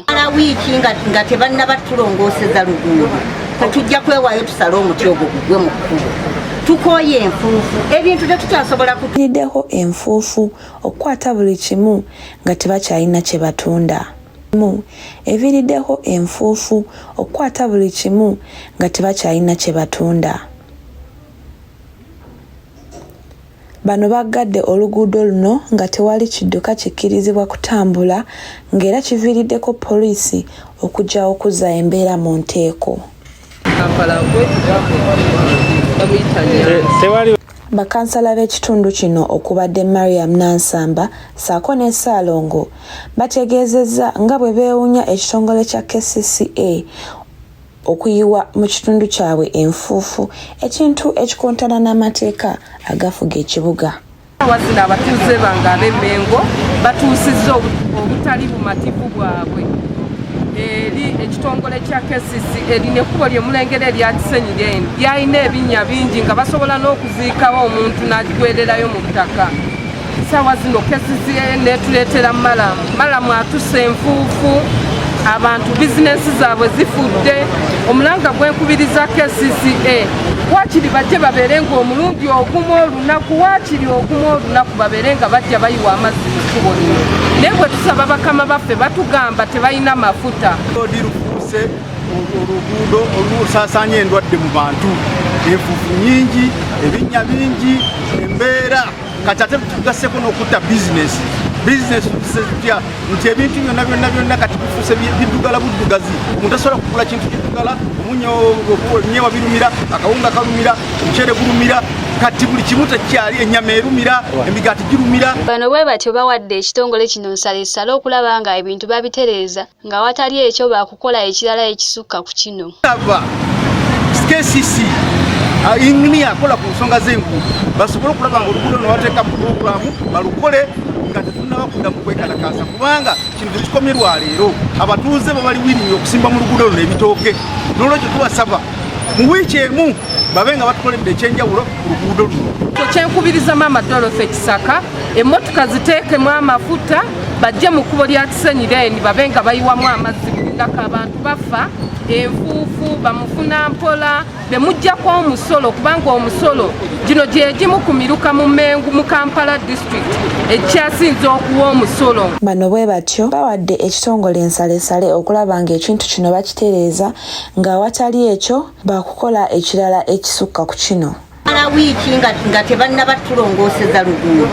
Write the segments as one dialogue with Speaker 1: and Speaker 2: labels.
Speaker 1: mala wiiki nga tebannaba tulongooseza luguudo tetujja kwewaayo tusale omuti ogwo gugwe mu kkubo tukooye enfuufu ebintu tetukyasobola kutuyideho
Speaker 2: enfuufu okukwata buli kimu nga tebakyalina kye batunda mu eviirideho enfuufu okukwata buli kimu nga tebakyalina kye batunda Bano baggadde oluguudo luno nga tewali kidduka kikkirizibwa kutambula ng'era kiviiriddeko poliisi okujja okuzza embeera mu nteeko. Bakansala b'ekitundu kino okubadde Mariam Nansamba ssaako ne Ssaalongo bategeezezza nga bwe beewunya ekitongole kya kcca okuyiwa mu kitundu kyabwe enfuufu ekintu ekikontana n'amateeka agafuga ekibuga wazira
Speaker 3: abatuuze bange ab'emengo batuusizza obutali bumativu bwabwe eri ekitongole kya kcc erina ekkubo lyemulengera erya kisenyi lyeni lyalina ebinnya bingi nga basobola n'okuziikawo omuntu n'agigwererayo mu ttaka saawa zino kesizie netuleetera malamu malamu atusa enfuufu abantu bizinensi zaabwe zifudde omulanga gwenkubiriza kcca wakiri bajje babeere nga omulundi ogumu olunaku wakiri ogumu olunaku babeere nga bajja bayiwa amazzi mu kkubo lino naye bwe tusaba bakama baffe batugamba tebalina mafuta odirufuuse
Speaker 4: oluguudo olusaasanya endwadde mu bantu enfufu nyingi ebinnya bingi embeera kati ate tugaseko n'okutta bizinesi bizinesi tutya nti ebintu byonna byonna byonna kati bifuuse biddugala buddugazi omuntu asobola kugula kintu kiddugala omunyo nyewa birumira akawunga kalumira omuceere gulumira kati buli kimu tekyali enyama erumira emigaati girumira bano bwe batyo
Speaker 5: bawadde ekitongole kino nsalesale okulaba nga ebintu babitereeza nga watali ekyo baakukola ekirala ekisukka ku kino KCC
Speaker 4: uh, inginiya akola ku nsonga z'enguudo basobole okulaba nga oluguudo no bateeka pulogulaamu balukole nga tetunaba kudda mu kwekalakaasa kubanga kino tekikomye lwa leero abatuuze babali wiringi okusimba mu luguudo luno ebitooke n'olwekyo tubasaba mu wiiki emu babe nga batukoledde ekyenjawulo ku luguudo luno kyenkubiriza maama
Speaker 3: dolofe kisaka emmotoka ziteekemu amafuta bajje mu kkubo lya kisenyi then babe nga bayiwamu amazzi bulingako abantu bafa enfuufu bamufuna mpola bemujjako omusolo kubanga omusolo gino gyegimu ku miruka mu mengu mu kampala district ekikyasinze okuwa omusolo bano bwe batyo
Speaker 2: bawadde ekitongole ensalesale okulaba ng'ekintu kino bakitereeza ng'awatali ekyo bakukola ekirala ekisukka ku kino mala wiiki
Speaker 1: nga tebannaba tulongooseza luguudo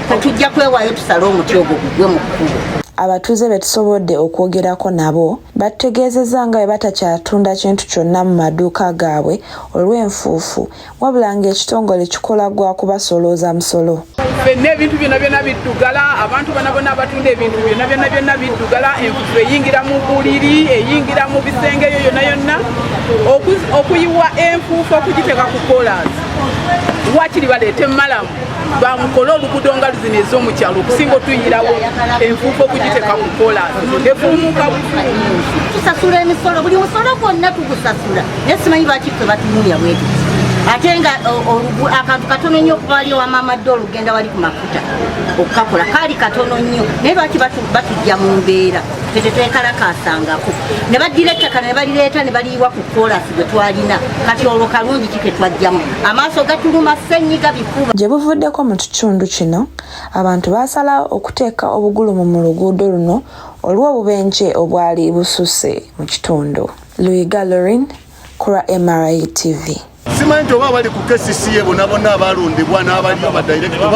Speaker 1: tetujja kwewaayo tusale omuti ogwo gugwe mu kkubo abatuuze be
Speaker 2: tusobodde okwogerako nabo batutegeezezza nga bwe batakyatunda kintu kyonna mu maduuka gaabwe olw'enfuufu wabula ng'ekitongole kikola gwa kubasolooza musolo fenna ebintu byona
Speaker 6: byona biddugala abantu bana bona abatunda ebintu byona byona byona biddugala enfufu eyingira mu buliri eyingira mu bisenge eyo yona yonna okuyiwa enfuufu okugiteeka ku kolas wakiri baleete malamu bamukole oluguudo nga luzina ez'omukyalo okusinga otuyirawo enfuufu okugiteeka ku kolas efulumuka bufuumuusi
Speaker 1: tusasula emisolo buli musolo gwonna tugusasula naye simanyi lwaki ffe batunuya bweti ate nga akantu katono nnyo okuba wali owa maama dol ogenda wali ku mafuta okukakola kaali katono nnyo naye lwaki batujja mu mbeera tetetwekalakaasangako ne baddira ettaka ne balireeta ne baliyiwa ku koolasi gwe twalina kati olwo kalungi ki ketwajjamu amaaso gatuluma ssenyiga bikuba gye buvuddeko mu
Speaker 2: kitundu kino abantu baasalawo okuteeka obugulumu mu luguudo luno olw'obubenje obwali bususse mu kitundu Luyiga Lorin ku lwa MRI TV.
Speaker 4: Simanyi nti
Speaker 2: oba abali
Speaker 4: ku kcca bona bona abalondebwa n'abaliyo ba director